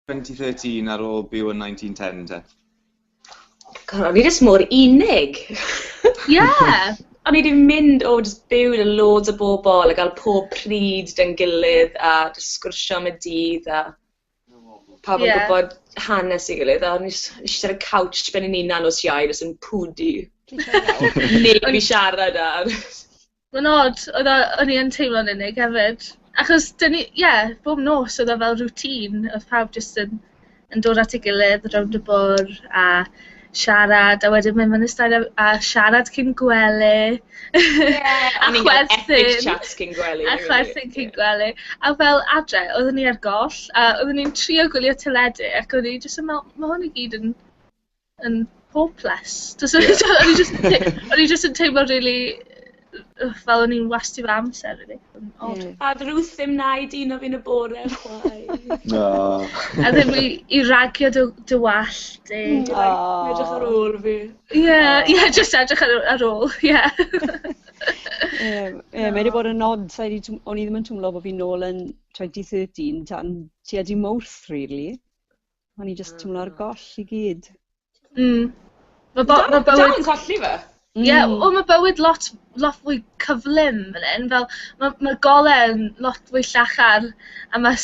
2013 ar ôl byw yn 1910 te. God, o'n i jyst mor unig. Ie! O'n i wedi mynd o jyst byw gyda loads o bobl a gael pob pryd dyn gilydd a jyst sgwrsio am y dydd a pawb yn gwybod hanes i gilydd a o'n i eisiau ar y couch ben yn unan o siau jyst yn pwdu. Neb i siarad ar. Mae'n od, oedd o... o'n i yn teimlo'n unig hefyd, achos 'dyn ni... ie, bob nos oedd o fel routine, oedd pawb jyst yn yn dod at ei gilydd rownd y bwrdd a siarad, a wedyn mynd mewn i'r stadiwm a siarad cyn gwely... Ie, o'n ni'n cael epic chats cyn gwely... a chwerthin cyn gwely, a fel adre, oedden ni ar goll, a oedden ni'n trio gwylio teledu ac o'n i jyst yn meddwl, 'ma hwn i gyd yn yn hopeless. Does 'na... Ie. ...o'n i jyst yn tei- o'n i jyst yn teimlo rili yy fel o'n i'n wasti fy amser rili. Yn od. Ie. A o'dd Ruth ddim 'na i dîno fi yn y bore chwaith. O! A ddim i i ragio dy dy wallt di. Hmm. O! Like edrych ar ôl fi. Ie ie jyst edrych ar ar ôl ie. Ie ie mae 'di bod yn od sai 'di twm- o'n i ddim yn twmlo bo' fi nôl yn twenty thirteen tan tua dydd Mowrth rili. O'n i jyst teimlo ar goll i gyd. Mm. Mae bo- ma bywyd... Dal yn colli fe? Ie, yeah, mm. o, mae bywyd lot, lot fwy cyflym fan hyn. Fel, mae ma gole'n lot fwy llachar a mae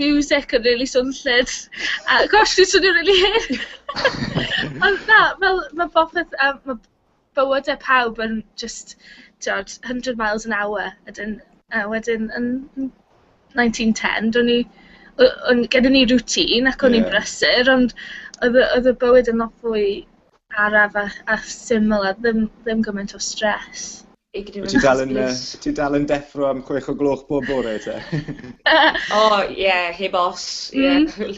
music yn really swnllyd. A gosh, dwi'n swnio'n really hyn. Ond na, fel, mae popeth, um, mae bywyde pawb yn jyst t'od hundred miles an hour ydyn a wedyn yn yn nineteen ten do'n i o- o'n gyda ni routine ac o'n i'n Ie. brysur ond oedd y oedd y bywyd yn lot fwy araf a a syml a ddim ddim gymaint o stress. Wyt ti dal yn yy wyt ti dal yn deffro am chwech o gloch bob bore te? O ie heb os ie.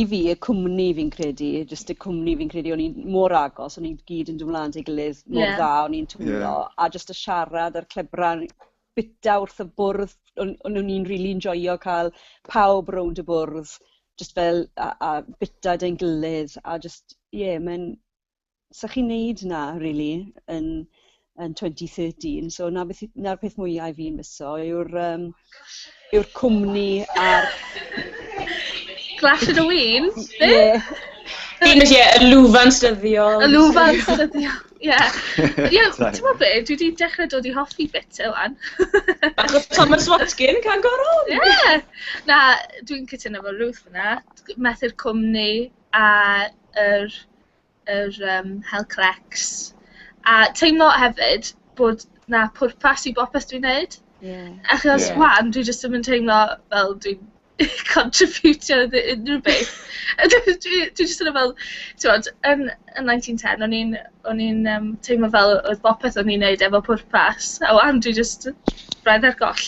i fi, y cwmni fi'n credu, jyst y cwmni fi'n credu, o'n i'n mor agos, o'n i'n gyd yn dod mlaen at ei gilydd mor yeah. dda, o'n i'n twyllo, yeah. a jyst y siarad a'r clebrau bita wrth y bwrdd, o'n, o'n i'n rili really enjoyio cael pawb rownd y bwrdd, jyst fel, a, a bita dyn gilydd, a jyst, ie, yeah, mae'n 'sa chi'n neud 'na rili yn yn twenty thirteen so 'na beth i- 'na'r peth mwya' i fi misso yw'r yym yw'r cwmni a'r... Clash of the Weens? Be? Fi'n mynd i y lwfans dyddiol. Y lwfans dyddiol, ie. Ie, ti'n gwybod be, dwi wedi dechrau dod i hoffi bit e wan. Bach o Thomas Watkin, can go wrong! Ie! Na, dwi'n cytuno efo Ruth yna. Methu'r cwmni a yr yr yym hel crecs a teimlo hefyd bod 'na pwrpas i bopeth dwi'n neud. Ie. Achos... Ie. ...'wan dwi jyst ddim yn teimlo fel dwi'n contributio iddi unrhyw beth. A dwi dwi dwi jyst yn meddwl t'mod yn yn nineteen ten o'n i'n o'n i'n yym teimlo fel oedd bopeth o'n i'n neud efo pwrpas a 'wan dwi jyst braidd ar goll.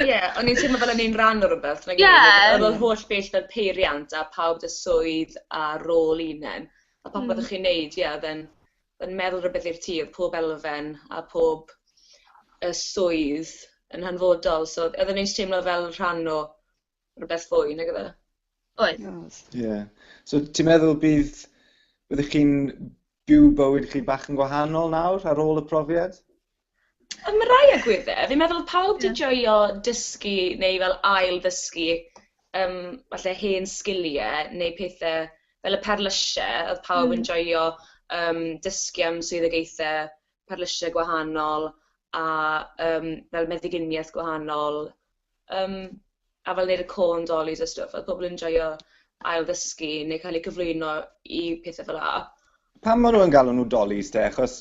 Ie o'n i'n teimlo fel o'n i'n rhan o rwbeth nag o'n i? Ie. O'dd o'dd holl beth fel peiriant a pawb 'da swydd a rôl un nen. A popeth oeddech chi'n wneud, ie, oedd e'n oedd e'n meddwl rywbeth i'r tŷ, oedd pob elfen a pob yy swydd yn hanfodol, so oedd e'n neis teimlo fel rhan o rywbeth fwy nag efe. Oedd. Ie. So ti'n meddwl bydd byddech chi'n byw bywyd chi bach yn gwahanol nawr ar ôl y profiad? Ym rai agweddau, fi'n meddwl oedd pawb 'di joio dysgu neu fel ail-ddysgu yym falle hen sgiliau neu pethe fel y perlysie, oedd pawb yn joio yym dysgu am swyddogaethau perlysie gwahanol a yym fel meddyginiaeth gwahanol. Yym, a fel neud y corn dollies a stwff, oedd pobl yn joio ail ddysgu neu cael eu cyflwyno i pethau fel 'na. Pam ma' nhw yn galw nhw dollies te? Achos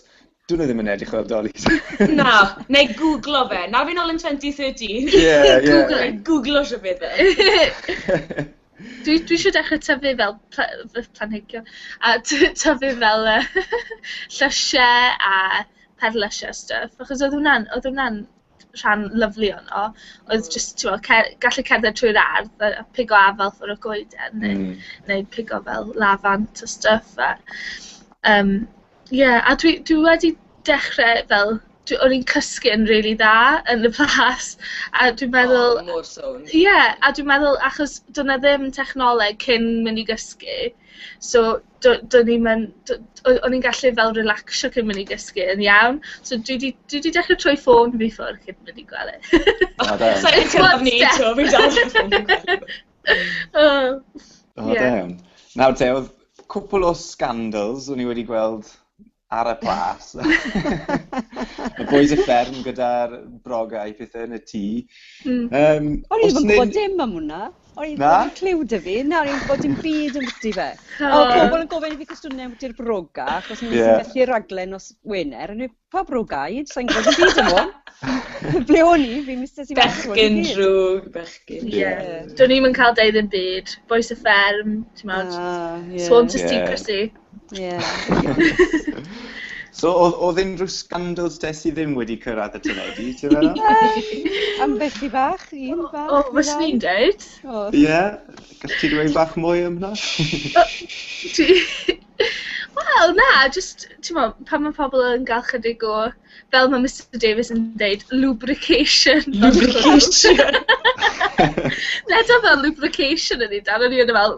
dwn i ddim yn edrych fel dollies. Na, neu gwglo fe. Na fi'n ol yn twenty thirteen. Ie, ie. Gwglo, gwglo shwt fydd e. Dwi dwi isio dechre tyfu fel pla- yy planhigion a t- tyfu fel yy llysie a perlysie a stwff achos oedd hwnna'n oedd hwnna'n rhan lyfli ohono, oedd jyst, timod, ce- gallu cerdded trwy'r ardd, a a pigo afal ffwrdd y goeden... mm... neu neu pigo fel lafant a stwff a yym ie. A dwi dwi wedi dechrau fel... dwi... o'n i'n cysgu'n rili dda yn y plas a dwi'n meddwl... O, mor sownd. ...ie, a dwi'n meddwl achos doedd 'na ddim technoleg cyn mynd i gysgu, so do- do'n i'm yn... d- o- o'n i'n gallu fel relacsio cyn mynd i gysgu yn iawn. So dwi 'di dwi 'di dechre troi ffôn fi ffwr' cyn mynd i gwely. O da iawn. Sai'n cyrraedd ni eto, fi dal heb ffôn fi'n gwely. O! O da iawn. Nawr te, o'dd cwpwl o scandals o'n i wedi gweld ar y plas. y boys y fferm gyda'r broga i pethau yn y tŷ. Mm. Um, o'n i'n gwybod dim am hwnna. O'n i'n gwybod clyw dy fi. Na, o'n i'n gwybod dim byd yn bwyty fe. Oh. O, pobl yn gofyn i fi cwestiynau am bwyty'r broga, achos ni'n yeah. gallu raglen os Wener. O'n i'n pa broga i? Sa'n gwybod dim byd am hwn. Ble o'n i? Fi'n mistes i mas o'n i. Bechgyn drwg, bechgyn. Ie. Yeah. Yeah. Do'n i'n cael dweud yn byd. Boes y fferm, ti'n meddwl. Ah, yeah. Swan to yeah. secrecy. Ie. So oedd, oedd unrhyw scandals te sydd ddim wedi cyrraedd y teledu, ti'n meddwl? Am beth i fach, un bach. O, fes ni'n dweud. Ie, gallai ti dweud bach mwy am hwnna? Wel, na, jyst, ti'n mo, pan mae pobl yn gael chydig o, fel mae Mr Davies yn dweud, lubrication. Lubrication. Leda fel lubrication yn ei dan, o'n i yn y fel,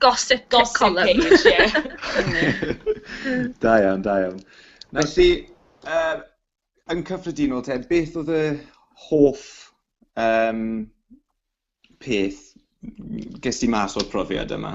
Gossip, gossip column. page, ie. da iawn, da iawn. Felly, uh, yn cyffredinol te, beth oedd y hoff um, peth ges di mas o'r profiad yma?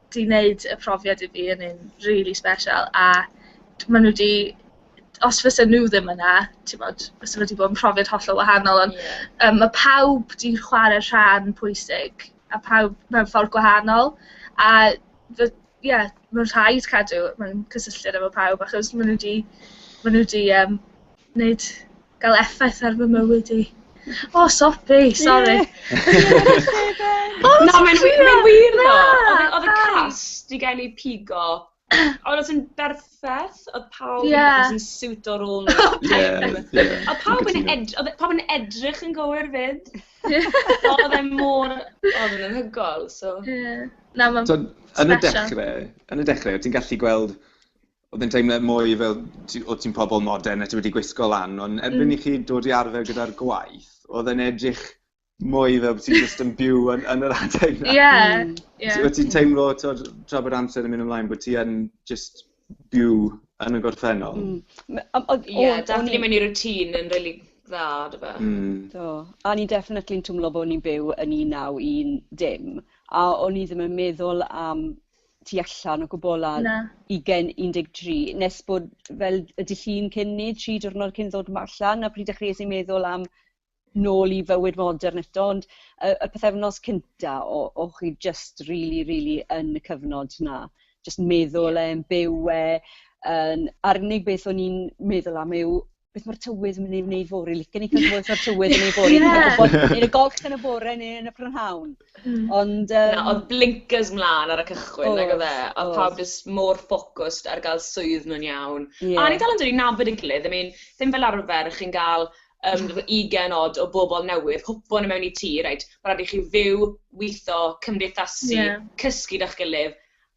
'di wneud y profiad i fi yn un rili sbesial, a d- maen nhw 'di... os fysen nhw ddim yna, timod, fysa fo 'di bod yn profiad hollol wahanol. Ond... ie. ...yym, ma' pawb 'di chwarae rhan pwysig, a pawb mewn ffordd gwahanol, a fy-... ie, mae'n rhaid cadw mewn cysylltiad efo pawb, achos maen nhw 'di maen nhw 'di yym wneud, gael effaith ar fy mywyd i. O, oh, sobi, sori. Na, mae'n wir, mae'n wir ddo. Oedd y cast i gen i pigo. Oedd oedd yn berffaith, oedd pawb yeah. yn siwt o rôl nhw. Oedd pawb yn edrych, oedd pawb yn edrych yn gywir fyd. Oedd e mor, oedd yn hygol, so. Yeah. Na, mae'n special. Yn y dechrau, yn y dechrau, ti'n gallu gweld Oedd e'n teimlad mwy fel ti... o't ti'n pobl modern a ti wedi gwisgo lan ond erbyn i chi dod i arfer gyda'r gwaith oedd e'n edrych mwy fel bo' ti jyst yn byw yn yn yr adeg 'na. Ie ie. O't ti'n teimlo t'wod tra bod amser yn mynd ymlaen bo' ti yn jyst byw yn y gorffennol? Hmm m- yym o'dd o... Ie dathlu mewn i routine yn rili dda dyfe? Hmm. Do a o'n i'n definitely'n twmlo bo' o'n i'n byw yn un naw un dim a o'n i ddim yn meddwl am tu allan o gwbwl ar... Na. ...ugen, un deg tri, nes bod fel y dydd Llun cyn 'ny, tri diwrnod cyn ddod ma- allan, 'na pryd dechreuais i meddwl am nôl i fywyd modern eto, ond y y pythefnos cynta o o chi jyst rili rili yn y cyfnod 'na, jyst meddwl e, yn byw e, yn... A'r unig beth o'n i'n meddwl am yw beth mae'r tywydd yn mynd i wneud fori, licen i cael gwybod o'r tywydd yn ei fori, neu y golch yn y bore neu yn y prynhawn. Hmm. Ond... Um... Na, oedd blinkers mlaen ar y cychwyn, oh, nag oedd e, oedd oh. pawb jyst mor ffocwst ar gael swydd nhw'n iawn. Yeah. A ni dal yn dod i nabod y gilydd, I mean, ddim fel arfer chi'n gael um, 20 odd o bobl newydd, hwpo nhw mewn i tŷ, reit, mae'n rhaid i chi fyw, weithio, cymdeithasu, yeah. cysgu da'ch gilydd,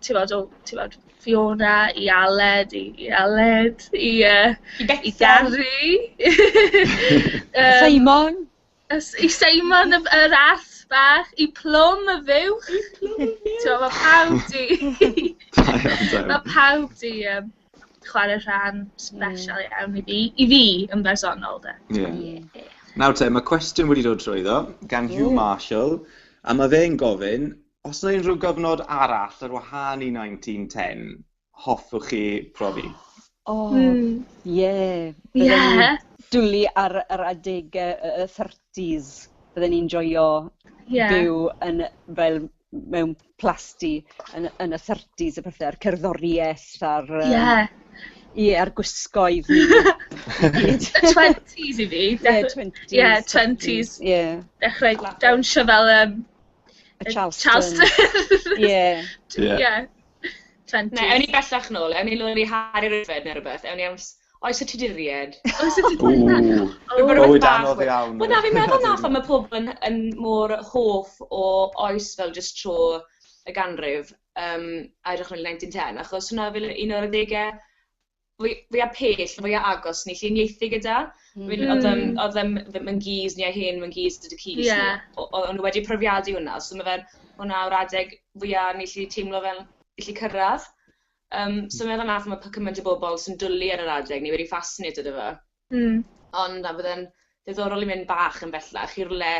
timod, o, timod, Fiona i Aled, i i Aled, i yy... I Bethan. ...i Gary. Yym... Seimon! Ys- I Seimon y- yr ath bach, i Plwm y fuwch. I Plwm y fuwch! T'mo' ma' pawb 'di... Da iawn, da iawn. ...ma' pawb 'di yym chware rhan sbesial iawn i fi, i fi yn bersonol de. Ie. Ie. Nawr te, ma' cwestiwn wedi dod trwyddo gan Huw Marshall a ma' fe'n gofyn Os na unrhyw gyfnod arall ar wahân i 1910 hoffwch chi profi? O, ie. Bydden i'n dwlu ar yr adegau y y thirties. Bydden ni'n joio byw yn fel mewn plasty yn y yn y thirties a pethe a'r cerddoriaeth a'r yym... Ie. ...ie a'r gwisgoedd i gyd. Y twenties i fi. Ie twenties. Ie twenties. Ie. Dechrau dawnsio fel yym Y Charleston. Charleston. yeah. yeah. yeah. Ne, ewn ni bellach nôl, ewn ni lwyn i Harry Ryfed neu rhywbeth, ewn ni am... Oes y ti di ried? Oes y ti di ried? Bywyd anodd iawn. Wel na, fi'n meddwl na phan mae pobl yn, yn mor hoff o oes fel just tro y ganrif, um, a edrych yn 1910, achos hwnna fel un o'r adegau fwy- fwya pell, fwya agos ni 'llu uniaethu gyda. Hmm. Fi'n... O'dd yym o'dd yym fy fy ngis ni a hen fy ngis dad a cu fi... Ie. ...o- o- o'n nw wedi profiadu wnna so ma' fe'n hwnna yw'r adeg fwya ni 'llu teimlo fel gallu cyrradd. Yym so meddwl nawr ch'mod pa cyment o bobol sy'n dwli ar yr adeg ni wedi fascinated â fo. Hmm. Ond na bydd e'n ddiddorol i mynd bach yn bellach i rwle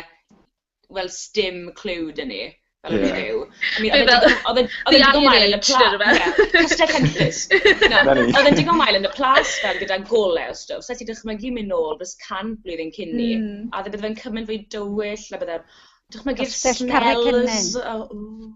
wel, sdim clue dyn ni, fel o'n i'n byw. Oedd e'n digon mael yn y plas. Castell Henllys. Oedd e'n digon mael yn y plas fel gyda golau o stwff. Saes i dychmygu mynd nôl dros cant blwyddyn cyn ni. A bydde fe'n cymaint fwy dywyll, a bydde... Dychmygu'r smells. Castell Carreg Cennen.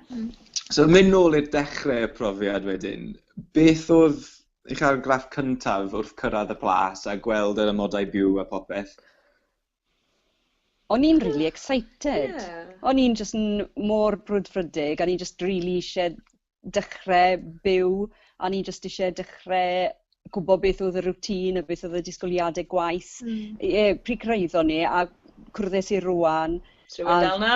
So yn mynd nôl i'r dechrau y profiad wedyn, beth oedd eich argraff cyntaf wrth cyrraedd y plas a gweld yr amodau byw a popeth? O'n i'n really excited. Yeah. O'n i'n just mor brwdfrydig, o'n i'n just really eisiau dechrau byw, o'n i'n just eisiau dechrau gwybod beth oedd y routine a beth oedd y disgwyliadau gwaith. Mm. E, pryd cyrraeddon ni a cwrddais i rwan. Ti'n mynd dal na?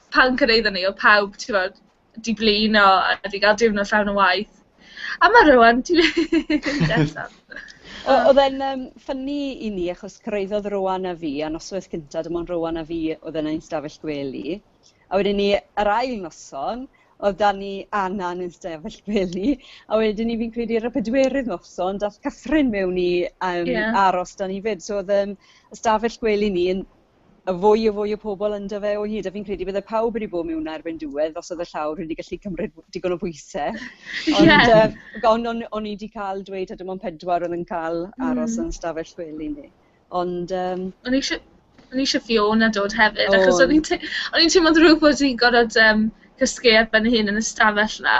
pan cyrhaeddon ni, oedd pawb, ti'n gwybod, 'di blino a 'di gael diwrnod llawn o waith. A ma' rŵan, ti mynd eto. O- Oedd e'n um, ffynnu i ni, achos cyrraeddodd Rowan a fi, a noswaith cynta, dim ond Rowan a fi oedd yna i'n stafell gwely. A wedyn ni, yr ail noson, oedd da ni Anna yn ein stafell gwely, a wedyn ni fi'n credu ar y pedwerydd noson, dath Catherine mewn i um, yeah. aros da ni fyd. So oedd um, y stafell gwely ni yn a fwy a fwy o pobl ynddo fe o hyd, a fi'n credu bydde pawb wedi bod mewn erbyn diwedd os oedd y llawr wedi gallu cymryd digon o bwysau. Ond yeah. uh, on, on, on i wedi cael dweud, a dim ond pedwar oedd yn cael hmm. aros mm. yn stafell chwil i ni. Ond... Um, o'n i eisiau... O'n i eisiau Fiona dod hefyd, oh. achos o'n i'n teimlo ddrwg bod i'n gorfod um, cysgu ar ben hyn yn y stafell na.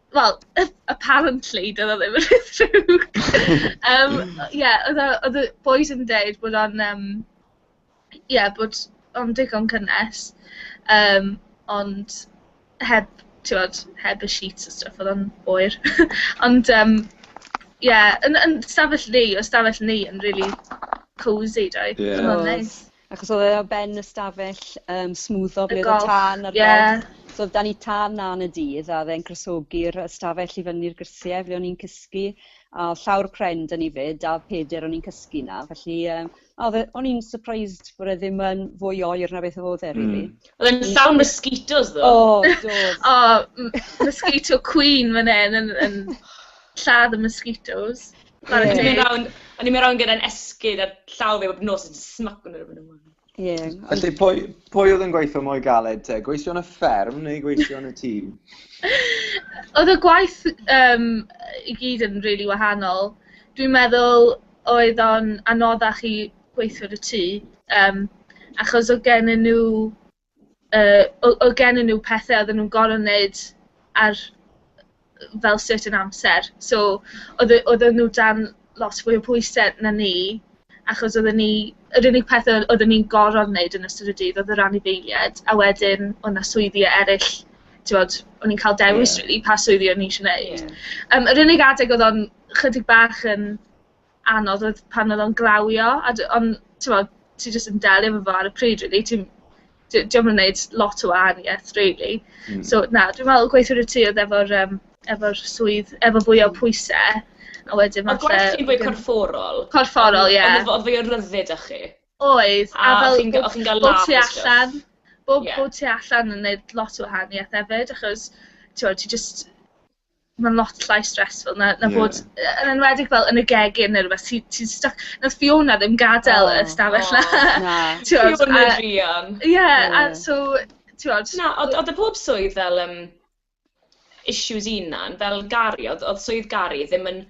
wel, apparently, doedd o ddim yn rhy ddrwg! Yym, ie, oedd y oedd y bois yn deud bod o'n yym... ie, bod o'n digon cynnes, yym, ond heb, tibod, heb y sheets a stwff, oedd o'n oer. Ond yym, ie, yn yn 'stafell ni, oedd 'stafell ni yn rili cosy doedd. Ie. Oedd o'n neis. Achos oedd e o ben y stafell um, smwddo ble oedd y tân ar yeah. golch. So oedd dan ni tân na yn y dydd a dde'n crosogi'r stafell i fyny'r grisiau ble o'n i'n cysgu. A oedd llawr pren dyn ni fyd a oedd peder o'n i'n cysgu na. Felly um, oedd, e, o'n i'n surprised bod e ddim yn fwy oer na beth oedd e, really. Mm. Oedd e'n llawn mosquitoes, ddo. O, do. o, mosquito queen fan hyn yn, yn lladd y mosquitoes. Ie... O'n i'n mynd rownd, o'n i'n mynd rownd gyda'n esgid a llaw fi a bob nos yn smaco nhw rownd a rownd. Ie ond... Felly pwy pwy oedd yn gweithio mwy galed te, gweithio yn y fferm neu gweithio yn y tŷ? Oedd y gwaith yym i gyd yn rili wahanol. Dwi'n meddwl oedd o'n anoddach i gweithio yn y tŷ yym achos oedd gennyn nhw yy, o- oedd gennyn nhw pethe oedden nhw'n gorfod wneud ar fel certain amser, so oedd e- oedden nhw dan lot fwy o pwyse na ni, achos oedden ni... yr unig pethe oedden ni'n gorfod wneud yn ystod y dydd oedd yr anifeiliaid, a wedyn oedd 'na swyddi eryll, t'mod, o'n i'n cael dewis... Ie. ...rili pa swyddi o'n i isio wneud. Ie. Yym, yr unig adeg oedd o'n chydig bach yn anodd oedd pan oedd o'n glawio, a d- ond, timod, ti jyst yn delio efo fo ar y pryd rili, ti'm... dio dio'm yn neud lot o wahaniaeth rili. Hmm. So na, dwi'n meddwl gweithio 'da ti oedd efo'r yym efo'r swydd efo fwy o hmm. pwyse, a wedyn Ond falle... gwaith ti'n fwy corfforol. Corfforol, ie. Ond oedd fwy o ryddid â chi. Oedd, a A fel... chi'n chi'n gael laugh tu allan, bod Ie. bod tu allan yn neud lot o wahaniaeth hefyd, achos t'mod ti jyst ma'n lot llai stressful na na bod... Ie. ...yy yn enwedig fel yn y gegin ne' rwbeth ti ti'n styc. Nath Fiona ddim gadel y stafell 'na. O na. T'mod a... Fiona druan. Ie. Ie. A so t'mod... Na odd odd e pob swydd fel yym issues 'i unan fel Gary odd odd swydd Gary ddim yn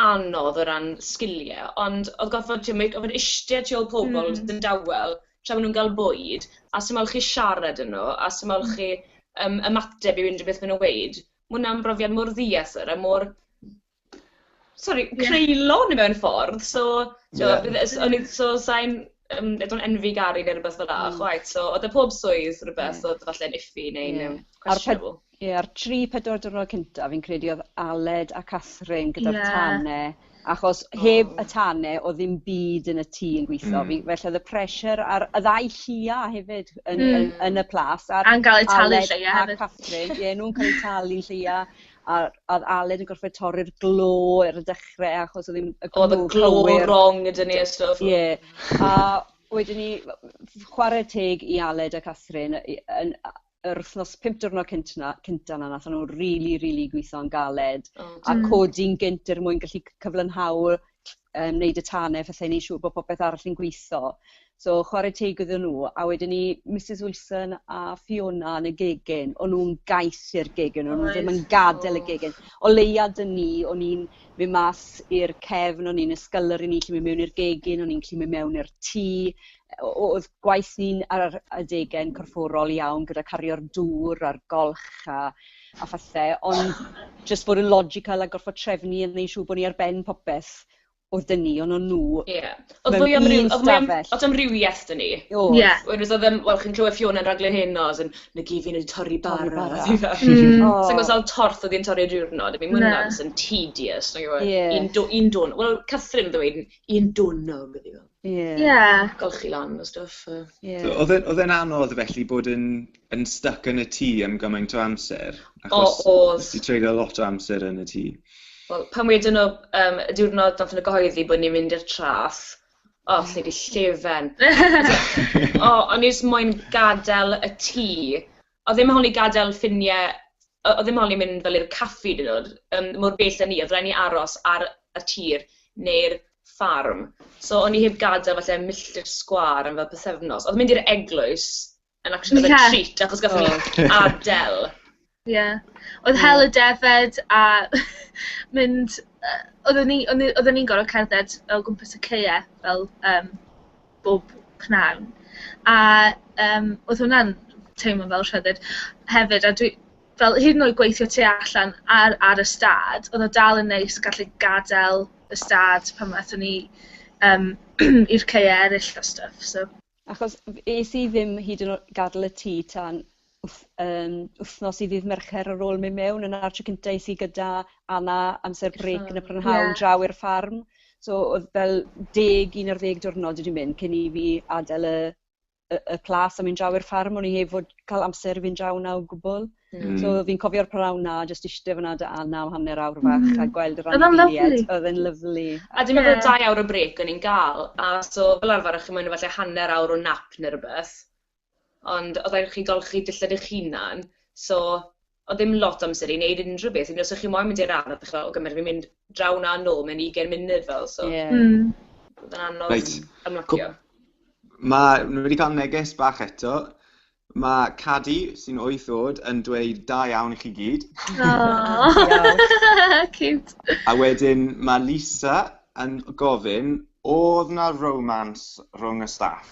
anodd o ran sgilie ond odd gorfod t'mo' meic- o'dd e'n ishte tu ôl pobol jyst yn dawel tra ma' nw'n ga'l bwyd a sdim mo'l chi siarad â nw a sdim mo'l chi yym ymateb i unrhyw beth ma' nw'n weud. Ma' wnna'n brofiad mor ddiythr a mor sori creulon mewn ffordd so t'mo' bydd yy s- o'n i so sai'n yym I don't envy Gary ne' rwbeth fela chwaith so o'dd e pob swydd rwbeth o'dd falle'n iffy neu'n yym questionable. Ie, a'r tri, pedwar diwrnod cynta, fi'n credu oedd Aled a Catherine gyda'r yeah. tane, achos oh. heb y tane oedd ddim byd yn y tŷ yn gweithio. Mm. Fi, felly oedd y pressure ar y ddau llia hefyd yn, mm. yn, yn, y plas. Ar A'n gael eu talu llia hefyd. A Catherine, ie, nhw'n cael eu talu llia. A oedd Aled yn gorfod torri'r glo ar y dechrau achos oedd ddim y glo Oedd y glo wrong ydyn ni a stwff. Ie. A wedyn ni, chwarae teg i Aled a Catherine, yn, yr wythnos pum diwrnod cynt na, cynta na, nath nhw rili, rili gweithio'n galed. Oh, a codi'n gynt er mwyn gallu cyflynhau, um, wneud y tanau, fathau wneud siŵr bod popeth arall yn gweithio. So, chwarae teg iddyn nhw. A wedyn ni, Mrs Wilson a Fiona yn y gegin, o'n nhw'n gaeth i'r gegin, o'n nhw ddim yn gadael y gegin. O leia dyn ni, o'n i'n mynd mas i'r cefn, o'n i'n ysgylor i ni, lle mynd mewn i'r gegin, o'n i'n lle mynd mewn i'r tŷ, oedd gwaith ni'n ar yr adegau'n corfforol iawn gyda cario'r dŵr a'r golch a a phethe, ond jyst bod yn logical a gorfod trefnu a wneud siŵr bod ni ar ben popeth oedd 'da ni, ond o'n nhw... Ie. O'dd mwy am ryw... mewn un stafell. O'dd amrywieth 'da ni. O'dd. Ie. Wedyn os o'dd yym wel chi'n clywed Fiona yn raglen heno as in na gyd fi'n neud yw torri bara. Torri bara. Fi fel... Hmm. O. Sai'n gwbo sawl torth o'dd 'i'n torri y diwrnod, I mean ma' wnna... Na. ...jyst yn tedious nag yw e? Ie. Un dw- un dwrn- wel Catherine o'dd yn weud un dwrnod ydi o. Yeah. Yeah. Golchi lan o stwff. So, yeah. so, oedd e'n anodd felly bod yn, yn stuck yn y tŷ am gymaint o amser? Achos o, oedd. Nes ti treulio lot o amser yn y tŷ. Wel, pan wedyn nhw, um, y diwrnod nath yn y gyhoeddi bod ni'n mynd i'r traff, o, oh, lle di llefen. o, o'n i'n moyn gadael y tŷ Oedd ddim yn holi gadael ffiniau, o- oedd ddim yn holi mynd fel i'r caffi hyd yn oed, yym mor bell a 'ny, oedd raid ni aros ar y tir neu'r ffarm, so o'n i heb gadael falle milltir sgwâr am fel pythefnos, oedd mynd i'r eglwys yn acshyli fel treat achos gaethon ni adael. Ie, oedd hel y defaid a mynd, yy, oedden ni, oedden ni, oedden ni'n gorfod cerdded o gwmpas y caeau fel yym... bob pnawn. A yym oedd hwnna'n teimlo fel rhyddid hefyd, a dwi... fel hyd yn oed gweithio tu allan ar ar y stad, oedd o dal yn neis gallu gadael y stad pan aethon ni yym i'r caeau eraill a stwff, so... Achos es i ddim hyd yn oed gadael y tŷ tan yym wythnos i ddydd Mercher ar ôl mynd mewn yna a'r tro cynta es i gyda Anna amser brêc yn y prynhawn draw i'r ffarm so o'dd fel deg un ar ddeg diwrnod wedi mynd cyn i fi adel y y y plas a mynd draw i'r ffarm o'n i heb fod ca'l amser i fynd draw 'na o gwbwl. Hmm. So fi'n cofio'r prynhawn 'na jyst iste fyn 'na 'da Anna am hanner awr fach hmm. a gweld yr anifeiliaid. O'dd e'n lyfli. A dwi'n meddwl dau awr o brêc o'n i'n ga'l a so fel arfer o'ch chi'n moyn falle hanner awr o nap ne' rwbeth. ond oedd rhaid i chi golchi dillad eich hunan, so oedd ddim lot o amser i wneud unrhyw beth, hyd yn oed os o'ch chi moyn mynd i'r ardd, dych chi'n meddwl, ok, ma' raid i fi mynd draw 'na a nôl mewn ugain munud fel, so... Ie. Hmm. Oedd e'n anodd... Reit. ...ymlacio. Ma'... Ni wedi ca'l neges bach eto ma' Cadi sy'n wyth o'd yn dweud da iawn i chi gyd. O! Diolch. Ciwt. A wedyn ma' Lisa yn gofyn, o'dd 'na romance rhwng y staff?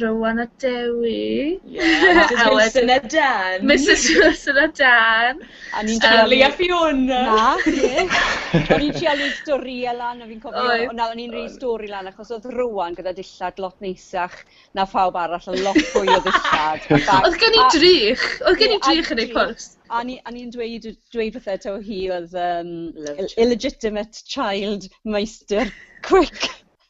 Rowan a Dewi. Ie Misus Wilson a Dan. Misus Wilson a Dan. A ni'n trial... Ellie a Fiona. Na, ie. O'n i'n trial neud storïe lan a fi'n cofio... Oedd. ...o na o'n i'n neud stori lan achos o'dd Rowan gyda dillad lot neisach na phawb arall a lot fwy o ddillad a ballu. O'dd gen i drych o'dd gen i drych yn eu pwrs. A o'n i o'n i'n dweud yy dweud wrtho taw hi o'dd yym ill- illegitimate child meistr cwîc.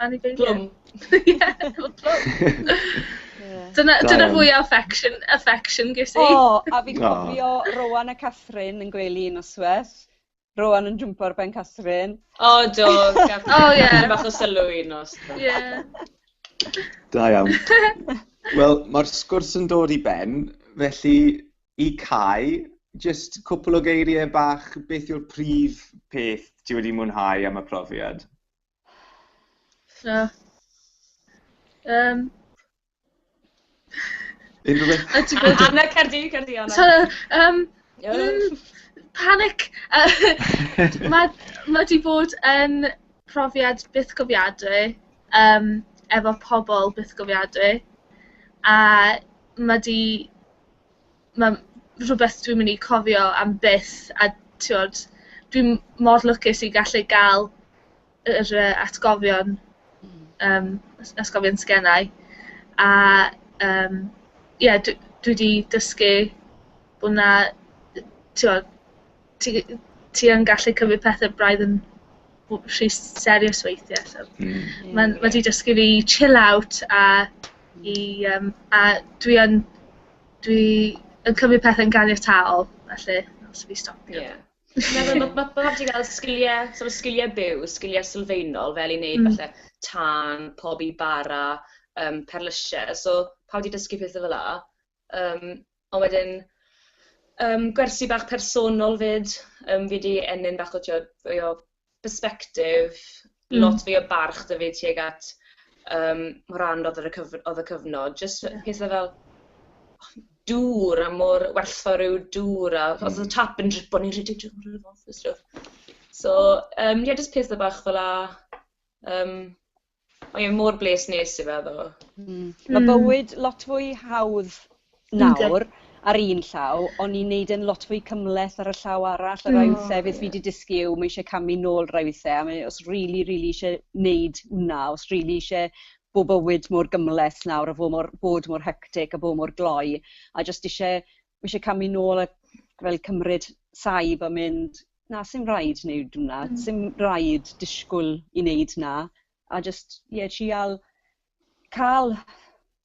Anifeiliaid. Plwm. Ie efo plwm. Ie. Dyna dyna... Da iawn. ...fwya affection affection ges i. O a fi'n cofio... O. ...Rowan a Catherine yn gwely un nosweth. Rowan yn jwmpo ar ben Catherine. O do Gath- O ie. ...Dipyn bach o sylw un nos do. Ie. Da iawn. Wel ma'r sgwrs yn dod i ben felly i Cai jyst cwpwl o geirie bach beth yw'r prif peth ti wedi mwynhau am y profiad? So, um, Unrhyw beth? A ti'n gwybod... Anna, cer di, cer di, Anna. So, um, mm, panic! Uh, mae ma di bod yn profiad byth gofiadwy, um, efo pobl byth gofiadwy, a mae di mae'n rhywbeth dwi'n mynd i cofio am byth, a tibod, dwi'n mor lwcus i gallu gael yr yy atgofion yym at- atgofion sgennai a yym ie dwi dwi 'di dysgu bo' 'na yy tibod ti g- ti yn gallu cymryd pethe braidd yn w- rhy s- serious weithie so... Hmm. ...ie. ...ma'n ma' 'di dysgu fi i chill out a i yym a dwi yn Dwi yn cymryd pethe'n ganiataol, felly, os fi stopio... Ie. Fi'n meddwl ma' ma' pawb 'di ga'l sgilie, sort of sgilie byw, sgilie sylfaenol, fel i neud... Mm. ...falle tân, pobi bara, yym perlyse, so pawb 'di dysgu pethe fela, yym ond wedyn yym gwersi bach personol 'fyd, yym fi 'di ennyn bach o t'wod, mwy o perspective lot fwy o barch 'da fi tuag at yym rhan odd y cyf- odd y cyfnod jyst yy pethe fel dŵr a mor werthfawr ryw dŵr a os o'dd y tap yn dripo o'n i'n rhedeg drw'r dŵr a stwff so yym ie jyst pethe bach fela yym. Mae e mor bles nes i fe ddo. Mm. Mae bywyd lot fwy hawdd nawr ar un llaw, ond ni'n neud e'n lot fwy cymhleth ar y llaw arall. A rai mm. withe beth fi wedi dysgu yw mae eisiau camu nôl rai withe, a mae os rili, rili eisiau neud hwnna, os rili eisiau bod bywyd mor gymhleth nawr a fod mor, bod mor hectic a bod mor gloi, a jyst eisiau, mae eisiau camu nôl a fel cymryd saib a mynd, na, sim rhaid wneud hwnna, sim rhaid disgwyl i wneud hwnna, a jyst, ie, trial cael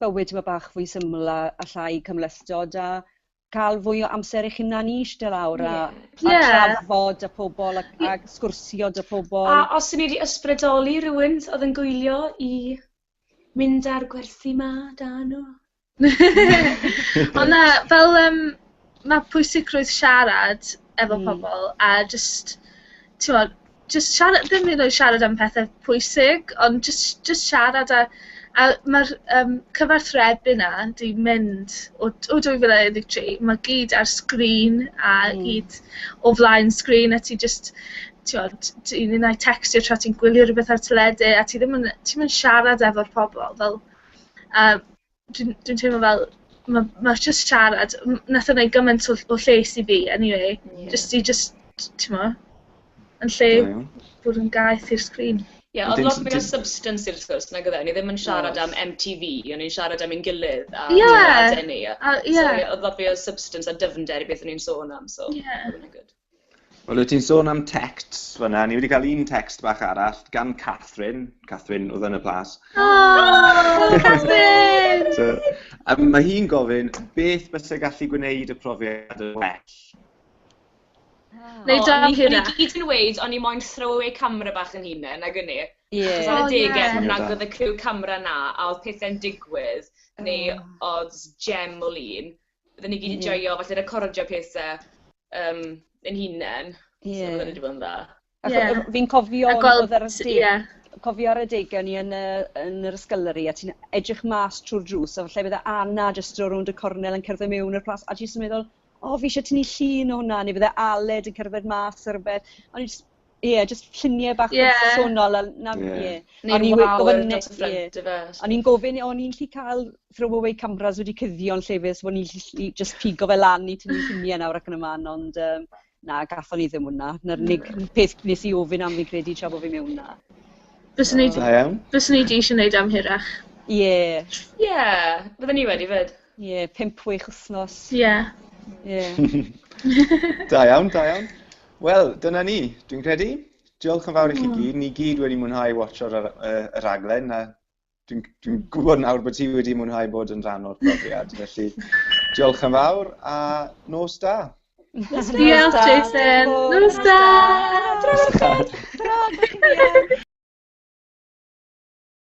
bywyd tyma' bach fwy syml a a llai cymhlethdod a cael fwy o amser eich hunan i ishte lawr a... ie... a trafod â pobl a a sgwrsio 'da pobl. A os o'n i 'di ysbrydoli rywun oedd yn gwylio i mynd â'r gwersi 'ma 'da nhw? Ond na, fel yym ma' pwysigrwydd siarad efo pobl a jyst t'mod jyst siara- ddim hyd yn oed siarad am pethe pwysig ond jyst jyst siarad a a ma'r yym cyfathrebu 'na 'di mynd o d- o dwy fil a un deg tri ma' gyd ar sgrin a gyd o flaen sgrin a ti jyst t'mod t- un ai tecstio tra ti'n gwylio rwbeth ar y teledu a ti ddim yn ti'm yn siarad efo'r pobol fel a dwi'n dwi'n teimlo fel ma' ma' jyst siarad m- nath o neud gymaint o ll- o lles i fi eniwe... Ie. ...jyst i jyst t- t'mo' yn lle... Da iawn. ...bod yn gaeth i'r sgrin. Ie o'dd lot mwy o substance i'r sgwrs nag o'dd e? O'n i ddim yn siarad am em ti fi o'n i'n siarad am ein gilydd a... Ie. ...teimlade ni a... A ie. ...so ie o'dd lot fwy o substance a dyfnder i beth o'n i'n sôn am so... Ie. ...ma' wnna'n good. Wel, wyt ti'n sôn am texts fyna. Ni wedi cael un text bach arall gan Catherine. Catherine, oedd yn y plas. Oh, Catherine! so, um, mae hi'n gofyn, beth bysau gallu gwneud y profiad yn well? Neu oh, dam hynna. Ni gyd yn weid, ond ni moyn throw away camera bach yn hunain, ag yni. Ie. Achos ar y degau, oh, nag oedd y criw camera na, a oedd pethau'n digwydd, neu oedd gem o lun. Bydden ni gyd yn joio falle recordio pethe yym ein hunen. Ie. So bydden ni 'di bod yn dda. Ie. Achos o- fi'n cofio... A gweld... ...odd yr ysde- Ie. ...cofio ar adega o'n i yn yy yn yr ysgyllery a ti'n edrych mas trw'r drws a falle bydde Anna jyst draw rownd y cornel yn cerdded miwn i'r plas a ti jyst yn meddwl o fi isie tynnu llun o hwnna neu bydde Aled yn cerdded mas a rwbeth. O'n i jys Ie jyst lluniau bach personol a 'na ie. O'n i'n gofyn o'n i'n gallu cael throwawê cameras wedi cuddio yn lle fyd so o'n i'n gallu jyst pigo fe lan i tynnu lluniau nawr ac yn y man ond yym na gaethon ni ddim hwnna. 'Na'r unig peth wnes i ofyn am fi'n credu tra bo' fi mewn 'na. Fyswn i... Da iawn. ...fyswn i 'di isie wneud e am hirach. Ie. Ie fydden i wedi 'fyd. Ie, pump week wsnos. Ie. Ie. Da iawn, da iawn. Wel, dyna ni, dwi'n credu. Diolch yn fawr i chi hmm. gyd. Ni gyd wedi mwynhau watcho'r yr, yr, yr raglen. A dwi'n dwi hmm. gwybod nawr bod ti wedi mwynhau bod yn rhan o'r profiad. Felly, diolch yn fawr a nos da. Nos da. Diolch, Jason. Nos da. Nos da. Nos da. Nos da.